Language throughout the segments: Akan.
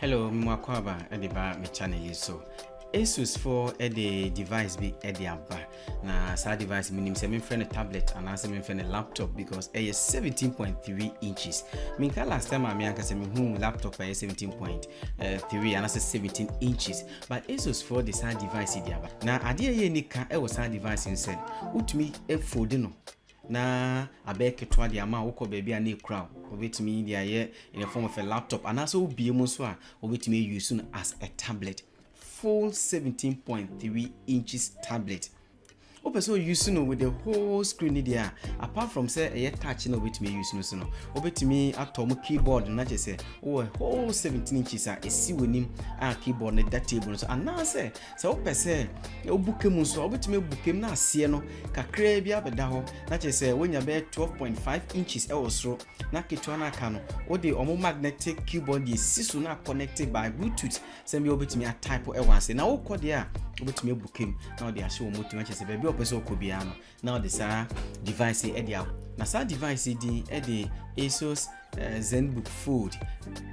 Hello, me mu akwaaba de ba me channel yi so. Asus fo de device bi de aba na saa device menim sɛ memfrɛ no tablet anaasɛ memfrɛ no laptop because ɛyɛ 17.3 inches menka last time a me ankasa mehu laptop ɛyɛ 17.3 anaasɛ 17 inches but Asus fo de saa device de aba na adeɛ ɛyɛ nika ɛwɔ saa device no sɛ wotumi fold no na abɛyɛ ketewa de ama wo, wokɔ baabi a na ekura wo, wobɛtumi de ayɛ in the form of a laptop anaasɛ wobie mu nso a wobɛtumi ayi so no as a tablet full 17.3 inches tablet wopɛ sɛ oyi so no with the whole screen ni deɛ a apart from sɛ ɛyɛ touch na wobɛtumi ayi so no so no wobɛtumi atɔ mu keyboard na kyerɛ sɛ wowɔ whole 17 inches a ɛsi w'anim a keyboard no da table no so anaasɛ Sɛ wopɛ sɛ wobu ka mu nso a, wobɛtumi abu ka mu na aseɛ no kakraa bi abɛda hɔ na kyerɛ sɛ woanya bɛyɛ 12.5 inches wɔ soro na ketewa no aka no wode ɔmo magnetic keyboard deɛ si so na connected by bluetooth sɛ bi wobɛtumi atype wɔ ase na wokɔ deɛ a wobɛtumi abu ka mu na wode ahyɛ wɔn mu tumi akyerɛ sɛ baabi a wɔpɛ sɛ wokɔ biara no na ɔde saa device yi de awo na saa device yi din de asus uh, zenbook fold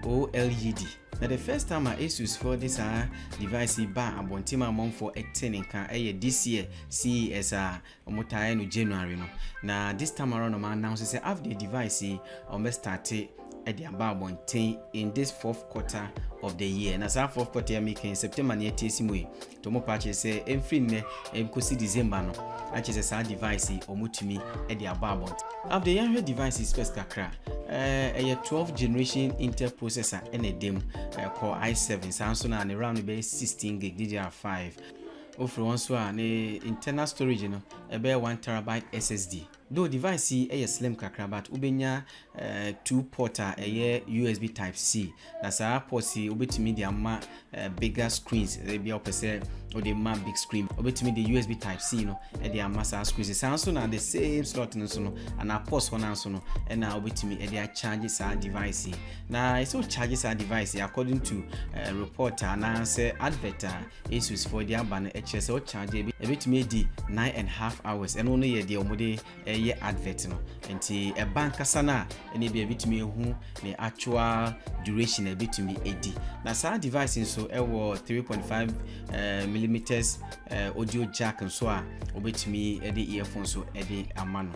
oled na the first time a asus fo de saa device yi baa abɔnten amanfoɔ ɛte ne nka ɛyɛ this year ces a wɔtaeɛ no january no na this time around ɔma announce sɛ after the device yi wɔbɛ starte ɛde aba abɔnten in this fourth quarter of the year na saa fourth quarter yɛ making september ne ɛte asi mu yi To mo pa kyere sɛ ɛmfiri nnɛ ɛnkɔsi December no akyere sɛ saa device yi wɔtumi de abɔ abɔnten. Afdei yɛnhwɛ device yi specs kakra. Ɛyɛ 12 generation Intel processor ɛna ɛda mu, Core i7 saa nso na ne ram no bɛyɛ 16 gig DDR5. Wofiri hɔ nso a ne internal storage no ɛbɛyɛ 1 terabyte SSD. Though device yi yɛ slim kakra but wobɛnya two port a ɛyɛ USB type C na saa ports yi wobɛtumi de ama bigger screens ebia wopɛ sɛ wode ma big screen wobɛtumi de USB type C no de ama saa screens saa nso na the same slot no nso no anaa ports hɔ no nso no ɛna wobɛtumi de acharge saa device yi na ɛsɛ wocharge saa device yi according to uh, report anaasɛ advert a Asus foɔ de aba no ɛkyerɛ sɛ wo charge ebi ɛbɛtumi adi nine and half hours ɛno no yɛ deɛ wɔn de ɛyɛ advert no nti ɛba ankasa no a ɛna ebi ɛbɛtumi ehu ne actual duration ɛbɛtumi edi na saa device nso ɛwɔ three point five eh, millimeters eh, audio jack nso a wɔbɛtumi ɛde earphone so ɛde ama no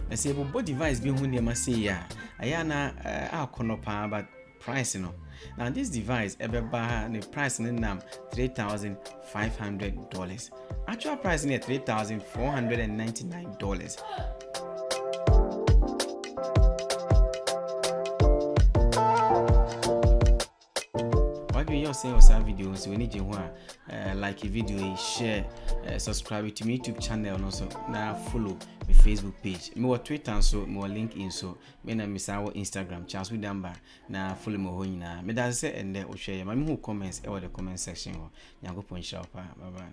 na sɛ ebobɔ device bi ho nneɛma sei a ɛyɛ ana eh, akɔnɔ paa but Price no. Na this device ɛbɛba ha ne price no nam three thousand five hundred dollars. Actual price no yɛ three thousand four hundred and ninety nine dollars. wadwene yɛ ɔsɛ wɔ saa video nso w'ani gye ho a eh, like video yi share eh, subscribe to me youtube channel no so na follow me facebook page mewɔ twitter nso mewɔ linkedin so Me na mesan wɔ Instagram, Charles Wood Amber, na follow me wɔ hɔ nyinaa. Meda ase sɛ ɛndɛ wohwɛ yɛ. Ma mehu comments ɛwɔ the comment section hɔ. Nyankopɔn nhyira wo paa. Bye bye.